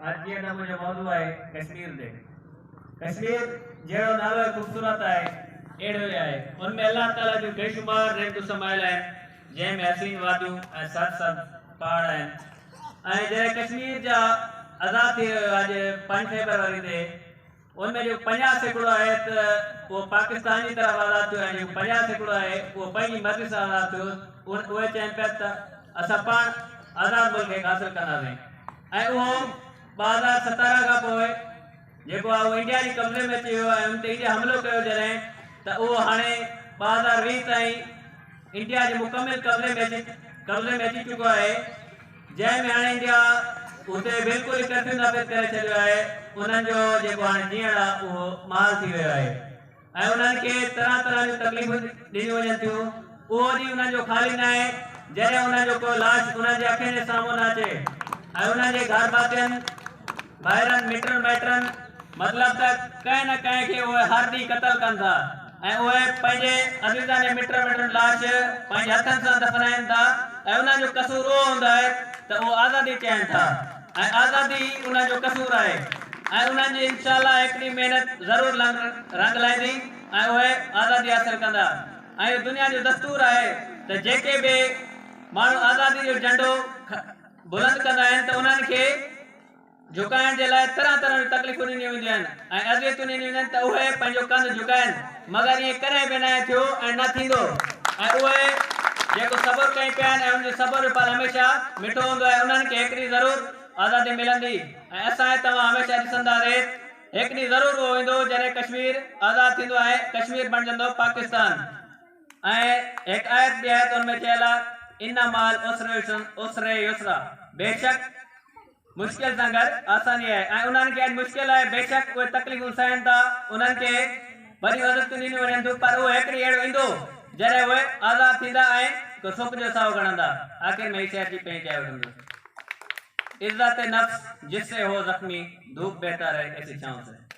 اڄ جيئن ته منهنجو موضوع آهي ڪشمير تي ڪشمير جهڙو نالو خوبصورت آهي اهڙو ئي آهي ان ۾ الله تعاليٰ جون بيشمار نعمتون سمايل آهن جنهن ۾ حسين واديون ۽ سر سر پهاڙ آهن ۽ جڏهن ڪشمير جا آزاد ٿي ويو اڄ پنج فيبروري تي ان جو پنجاهه سيڪڙو آهي ته اهو پاڪستان جي طرف آزاد ٿيو ۽ جيڪو پنجاهه سيڪڙو آهي اهو پنهنجي مرضي سان آزاد ٿيو. اهي چين پيا ته اسان پاڻ آزاد ملڪ هڪ حاصل ڪنداسين ۽ اهو ٻه هزار ستارهن کان پوء جيڪو آهي اهو انڊيا جي قبضي ۾ اچي ويو ۽ ان تي انڊيا حملو ڪيو جڏهن ته اهو هاڻي ٻه هزار ويهه تائين انڊيا جي مڪمل قبضي ۾ اچي قبضي ۾ اچي چڪو آهي. جنهن ۾ هاڻي انڊيا اتي بلڪل ئي ڪرفيو نافذ ڪري ڇڏيو آهي، انهن جو جيڪو هاڻي جيئڻ آهي اهو محال ٿي ويو آهي ۽ انهن کي طرح طرح جون تڪليفون ڏنيون وڃن ٿيون، اهو ڏينهن انهن جو خالي نه آهي جڏهن انهن جو ڪو لاش انهن جي اکين جي سامهون نه اچي ۽ انهن جي گهرڀاتين. ڀائرن مٽن مائٽن مطلب ته ڪنهن نه ڪنهن کي اهي هر ڏينهن قتل ڪن ٿا ۽ اهي پنهنجي عزيزن ۽ مٽن مائٽن لاش پنهنجي هٿن سان دفنائين ٿا ۽ انهن جو قصور اهو هوندو آهي ته اهو آزادي چاهين ٿا ۽ آزادي ئي انهن جو قصور آهي ۽ انهن جي انشاء الله هڪ ڏينهن محنت ضرور رنگ لائيندي ۽ اهي آزادي حاصل ڪندا ۽ اهو دنيا جو دستور آهي ته جيڪي به ماڻهو آزادي جو جهنڊو بلند ڪندا آهن ته انهن کي جهڪائڻ جي لاء طرح طرح جون تڪليفون ڏنيون وينديون آهن ۽ اذيتون ڏنيون وينديون آهن ته اهي پنهنجو ڪنڌ جهڪائين مگر ائين ڪڏهن به ناهي ٿيو ۽ نه ٿيندو ۽ اهي جيڪو صبر ڪين پيا آهن ۽ انهن جي صبر جو ڦل هميشه مٺو هوندو آهي انهن کي هڪ ڏينهن ضرور آزادي ملندي ۽ اسان ۽ توهان هميشه ڏسندا ريت هڪ ڏينهن ضرور اهو ايندو جڏهن ڪشمير آزاد ٿيندو ۽ ڪشمير بڻجندو پاڪستان. ۽ هڪ آيت ٻي آيتن ۾ چيل آ ان مع العسر عسر يسرا بيشڪ مشڪل سان گڏ آساني آهي ۽ انهن کي اڄ مشڪل آهي بيشڪ اهي تڪليفون سهن ٿا انهن کي وڏيون عزتون ڏنيون وڃن ٿيون پر اهو هڪڙي اهڙو ايندو جڏهن اهي آزاد ٿيندا ۽ هڪ سڪ جو ساهو کڻندا آخر ۾ هي شعر جي پئين چائي وٺندس عزت نفس جس سي هو زخمي ڌوپ بهتر هي ايسي ڇانو سي